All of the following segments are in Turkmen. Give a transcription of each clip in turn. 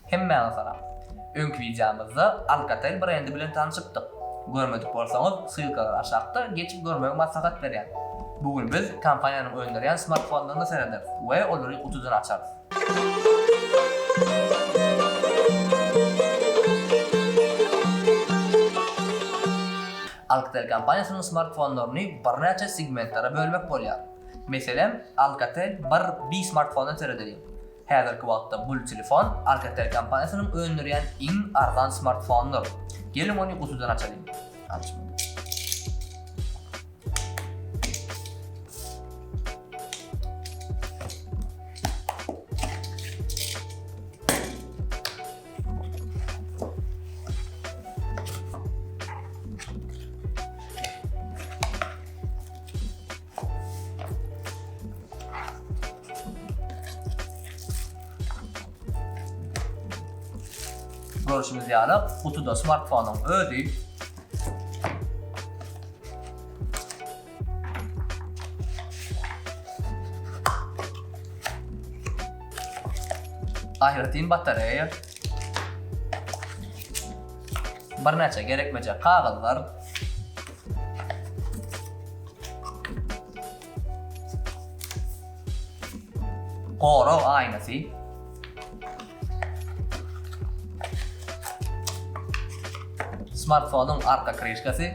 Hemmäňe salam. Öňki wideomyzda Alcatel brendi bilen tanşypdyk. Görmedik bolsaňyz, ssylkalar aşakda, geçip görmegi maslahat berýän. Bu gün biz kompaniýanyň öndürýän smartfonlaryna serederis we olary gutudan açarys. Alcatel kompaniýasynyň smartfonlaryny birnäçe segmentlere bölmek bolýar. Meselem, Alcatel bir B smartfondan seredeliň. Häzirki wagtda bul telefon Alcatel kompaniýasynyň öndürýän iň arzan smartfonydyr. Geliň ony gutudan açalyň. Görüşimiz ýaly, gutuda smartfonyň özi. Aýratyn batareýa. Birnäçe gerekmejek kagyzlar. Gorag aýnasy. Smartfonyň arka krişkasy.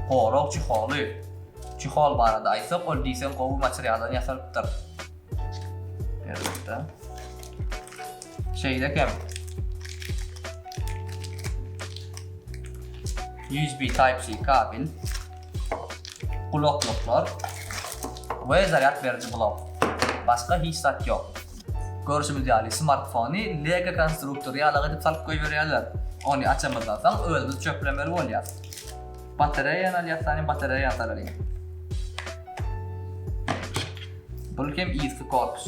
Gorag çyholy. Çyhol barada aýtsak, ol diýseň gowy materialdan ýasalypdyr. Elbetde. Şeýle hem USB Type-C kabel, gulaklyklar we zarýad beriji blok. Başga hiç zat ýok. Görşümiz ýaly, smartfony Lego konstruktory ýalak edip salyp goýberýärler. Ony açamyzdan soň özümiz çöplemeli bolýas. Batareýany alýas, sany batareýany saralyň. Bul hem yzky korpus.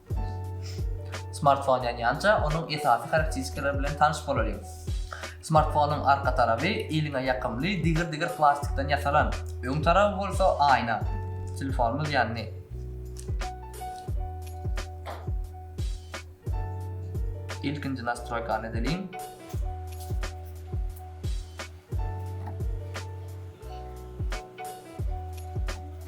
Smartfon ýanýanja, onuň esasy harakteristikalary bilen tanyş bolalyň. Smartfonyň arka tarapy eliňe ýakymly digir-digir plastikden ýasalan, öň taraby bolsa aýna. Telefonymyz ýandy. Ilkinji nastroýkany edeliň.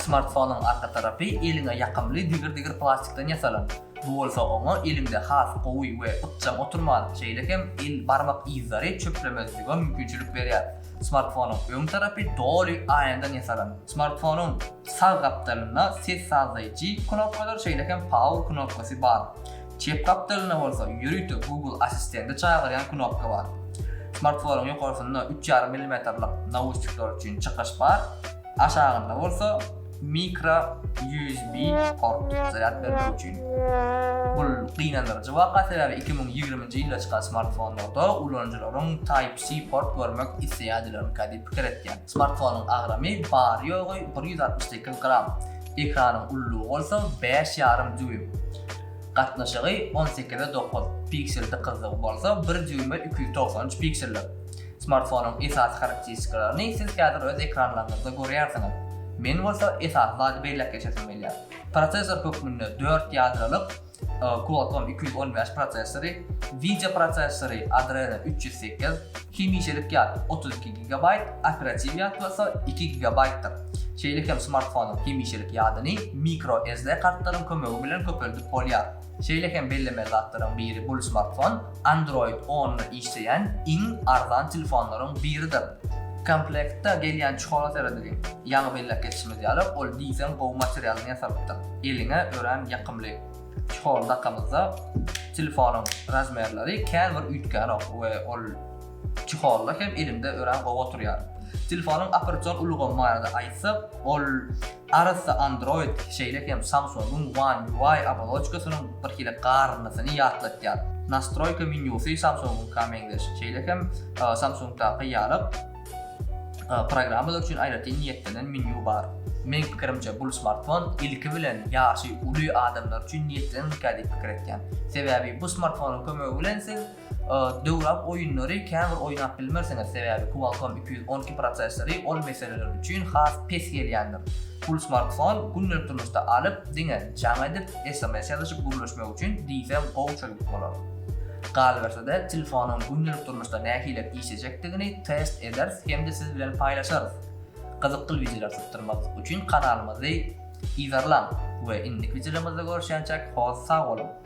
Smartfonyň arka tarapy eliňe ýakymly digir-digir plastikden ýasalan. Bu bolsa oňa eliňde has gowy we ykjam oturman, şeýle hem el barmak yzlary çöplemezlige mümkinçilik berýär. Smartfonyň öň tarapy doly aýnadan ýasalan. Smartfonyň sag gapdalynda ses sazlaýjy knopkadyr, şeýle hem power knopkasy bar. Çep gapdalynda bolsa ýörite Google Assistenti çagyrýan knopka bar. Smartfonyň ýokarsynda üç ýarym millimetrlik nauşnikler üçin çykyş bar, aşagynda bolsa mikro USB port, zarýad bermek üçin. Bu gynandyryjy waka, sebäbi iki müň ýigriminji ýylda çykan smartfonlarda ulanyjylaryň Type-C port görmek isleýärdilermikä diýip pikir etýän. Smartfonyň agramy bary-ýogy bir ýüz altmyş sekiz gram, ekranyň ullugy bolsa bäş ýarym dýuým. Gatnaşygy on sekize dokuz, piksel dykyzlygy bolsa bir dýuýma iki ýüz togsan üç pikseldir. Smartfonyň esasy harakteristikalarny siz häzir öz ekranlaryňyzda görýärsiňiz. Men bolsa esasy zady belläp geçesim gelýär. Prosessor hökmünde dört ýadrolyk Qualcomm iki ýüz on bäş prosessory, wideo prosessory Adreno üç ýüz sekiz, hemişelik ýat otuz iki gigabaýt, operatiw ýat bolsa iki gigabaýtdyr. Şeýle hem smartfonyň hemişelik ýadyny microSD kartlaryň kömegi bilen köpeldip bolýar. Şeýle hem bellemeli zatlaryň biri bul smartfon, Android onda işleýän iň arzan telefonlaryň biridir. Komplektde gelýän çuhara seredigiň. Ýaňy belläp geçişimiz ýaly, ol diýseň gowy materialdan ýasalypdyr. Eliňe örän ýakymly. Çuhary dakamyzda telefonyň razmerleri kän bir üýtgänok we ol çuharly hem elimde örän gowy oturýar. Telefonyň operasion ulgamy barada aýtsak, ol Arassa Android, şeýle hem Samsung-yň One UI oboloçkasynyň birhili garyndysyny ýatlatýar. Nastroýka menýusy Samsung-yňka meňzeş, şeýle hem Samsung-daky ýaly, programmalar üçin aýratyn niýetlenen menýu bar. Meň pikirimçe, bul smartfon ilki bilen ýaşy uly adamlar üçin niýetlenenkä diýip pikir etýän. Sebäbi bu smartfonyň kömegi bilen siz, Döwrap oýunlary käbir oýnap bilmersiňiz, sebäbi Qualcomm iki ýüz on iki prosessory ol meseleler üçin has pes gelýändir. Pul smartfon gündelik durmuşda alyp, diňe jaň edip, sms ýazyşyp gürleşmek üçin diýseň gowy çözgüt bolar. Galyberse-de, telefonyň gündelik durmuşda nähilek işlejekdigini test ederis hem-de siz bilen paýlaşarys. Gyzykly wideolar sypdyrmak üçin kanalymyzy yzarlaň we indiki wideolarymyzda görüşýänçäk, hor sag boluň!